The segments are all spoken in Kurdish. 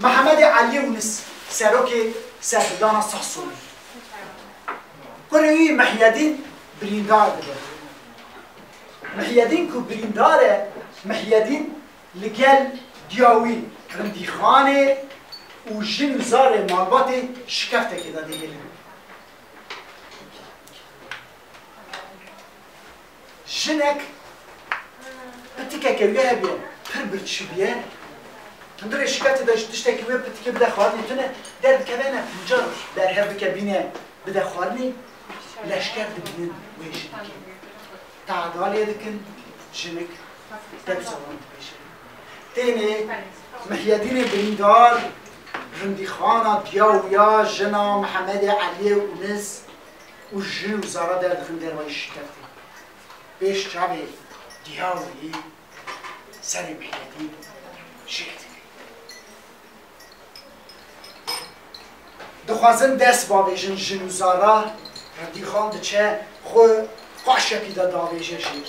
Mehemedê Eliyê Unis, serokê Serhildana Sexsûnê, kurê wî Mihyedîn birîndar dibe. Mihyedîn ku birîndar e, Mihyedîn li gel diya wî rindîxanê û jin û zarê malbatê şikeftekê de digihîn. Jinek pitikeke wê hebîye pir birçîbîye, hundirê şiketê de ji tiştekî wê pitikê bide xwarinê tune derdikeve ne fincan berhev bike bîne bide xwarinê, leşker dibînin wê jinekê tehdal lê dikin, jinik dewsa wan dibêje. Tênê Mihyedînê Birîndar, Rindîxana Diya û Ya, Jina, Mihemedê Eliyê, Unis. Û ji û zara derdixin derwayî şîkeftî. Pêş çavê dîya û yî serê mihnetî şêr dike. Dixwazin dest bavêjin jin û zara Hirdîxan diçe xwe paşekî de davêje jêr.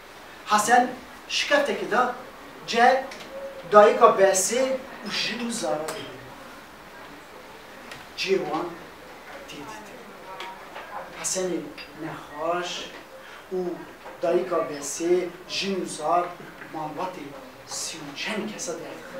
Hesen şiketeke da ce dayika Besê û jin û zaravê bînin. Cihê wan tê dîtin. Hesenê nexweş û dayika Besê, jin û zar malbatê sî û çend kesa derdixe.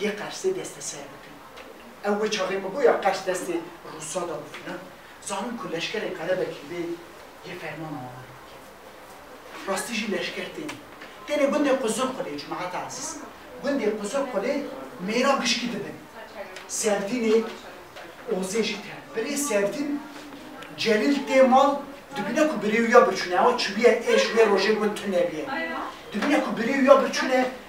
yê Qersê desteser bikin. Ew wê çaxê ku bûya Qers destê Rûsa da û filan, zanîn ku leşkerê Qerebekî bê yê fermana wan rê bikeve. Rastî jî leşker têne. Têne gundê Quzulqulê, Cumate Ezîz. Gundê Quzulqulê mêran gişkî dibin. Serdînê Ozê jî tene. Birê Serdîn Celîl tê mal, dibîne ku birê wî ya birçûne, ewa çûbîye êş wê rojê gund tune bîye. Dibîne ku birê wî ya birçûne.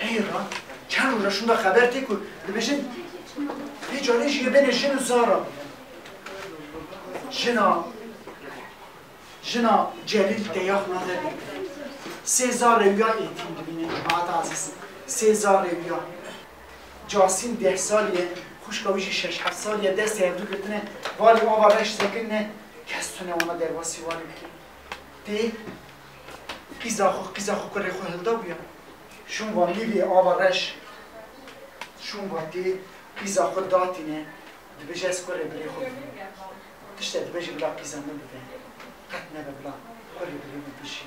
Ey ra çend roj e şunda xeber tê ku dibêjin vê carê jî yê bêne jin û zara bîne. Jina jina Celîl teya xwe nade bîbîne. Sê zar rewîya êtîm dibîne cemaata ezîz. Sê zar rewîya. Casîm deh salî ye, xwişka wî jî şeş heft salî ye destê hevdû girtine valî ava reş sekinine kes tune wana derbasî wanê bikê. Tê Qîza xwe qîza xwe kurê xwe hilda bûya. Şûn va mîvê ava reş. Şûn va tê qîza xwe datîne dibêje ez kurê birê xwe bînim. Tişte dibêje bila qîza min bibe. Qet nebe bila kurê birê min bijî.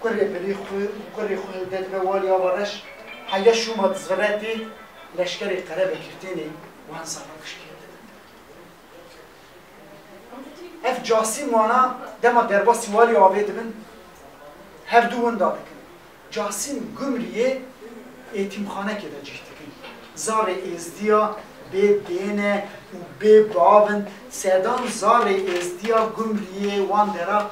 Kurê birê xwe û kurê xwe hilde dibe walê ava reş. Heya şûn va dizvire tê leşkerê qerebekir tênê wan zava kişkê. Ev casîm wana dema derbasî walî avê dibin her du winda dikin. Casîm Gumriyê êtîmxanekê de cih dikin. Zarê Êzdiya bê dêne û bê bavin sedan zarê Êzdiya Gumriyê wan dera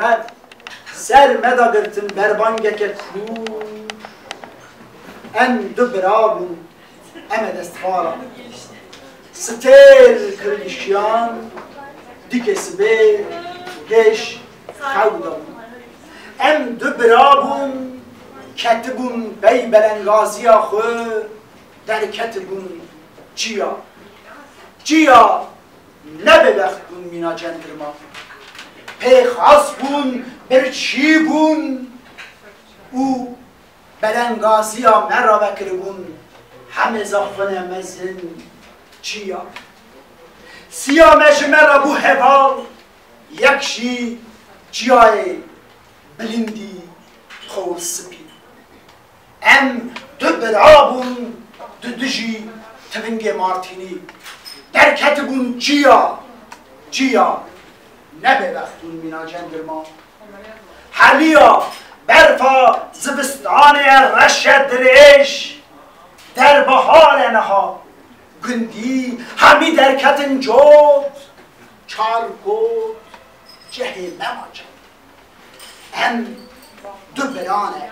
Red, ser me da girtin berbangeke kûr. Em du bira bûn, em e destvala. Sitêr kirgişiyan, dikê sibê pêş xew de bûn. Em du bira bûn, ketibûn bey belengaziya xwe, derketibûn çiya. Çiya! Ne bêbext bûn mîna centilman. Pê xas bûn birçî bûn û belengaziya me re vekiribûn hemê zaxwine mezin çiya. Siya me ji me re bû heval, yek jî çiyayê bilindî xor spî. Em du bira bûn di dijî tivingê Martînî. Derketibûn çiya çiya. Ne bêbext bûn mîna cengil ma. Heliya berfa zivistanê ye reşe dirêj. Der bihar e niha. Gundî hemî derketin cot. Çar kot cehê me ma çend e. Em du biran e.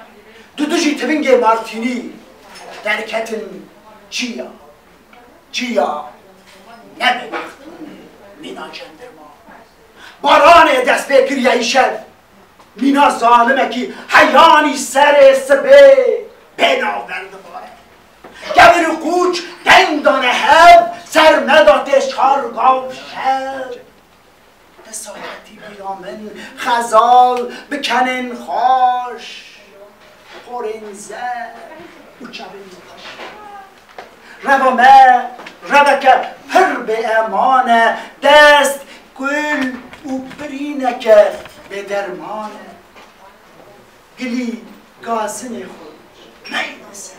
Di dijî tivingê Martînî derketin çiya. Çiya ne benext bûn mîna cendirma. Baranê dest pê kiriye îşev mîna zalimekî heyanî serê sibê bê navber dibare. Kevir û qûç deng dane hev ser meda tê çar gav şev Te saetî bîra min xezal bi kenên xweş, porên zerf û çavên xweş. Reva me reveke pir bêeman e, dest kul û birîneke bêderman e. Gilî gazinê xwe meyne ser.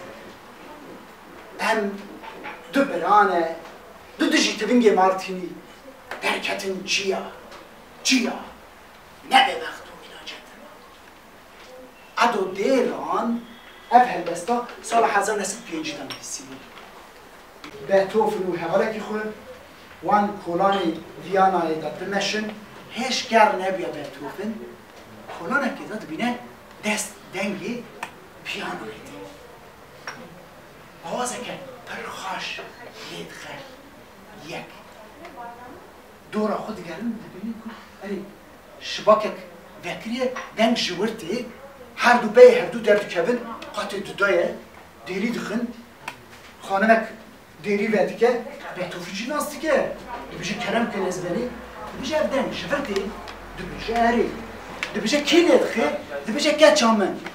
Em du birane, du dijî tivingê Martînî. derketin çiya çiya nebe bext û îlacet. Qedo dê ran ev helbesta sala hezar û neh sed û pêncî de nivîsî bû. Beethoven û hevalekî xwe wan kolanê Vîyanayê de bimeşin, hêj kar nebûye Beethoven kolanekê de dibîne dest dengê pîyanayê tê. Awazeke pir xweş lê dixe. yek. Dora xwe digerin dibînin ku erê şibakek vekiriye deng ji wir tê, her du beyê her du derdikevin qatê du de ye, dêrî dixin, xanimek dêrî vedike, betûfî jî nas dike, dibêje kerem kin ez benê, dibêje ev deng ji vir tê, dibêje erê, dibêje kê lê dixe, dibêje keça min.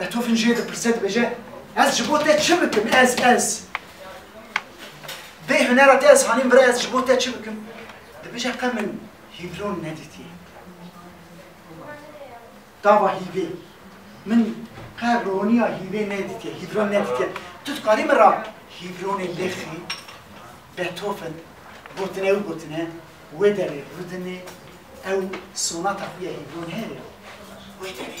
Beethoven jê dipirse dibêje, Ez ji bo te çi bikim? Ez, ez. Bê hunera te ez hanîm bira ez ji bo te çi bikim? Dibêje qe min hîvlon nedîtiye. Dava hîvê. Min qe roniya hîvê nedîtiye, hîvlon nedîtiye. Tu dikarî min ra hîvlonê lêxî? Beethoven gotine ew gotine wê derê Rudinê ew sonata xwe ya hîvlon heye ya. Wê derê.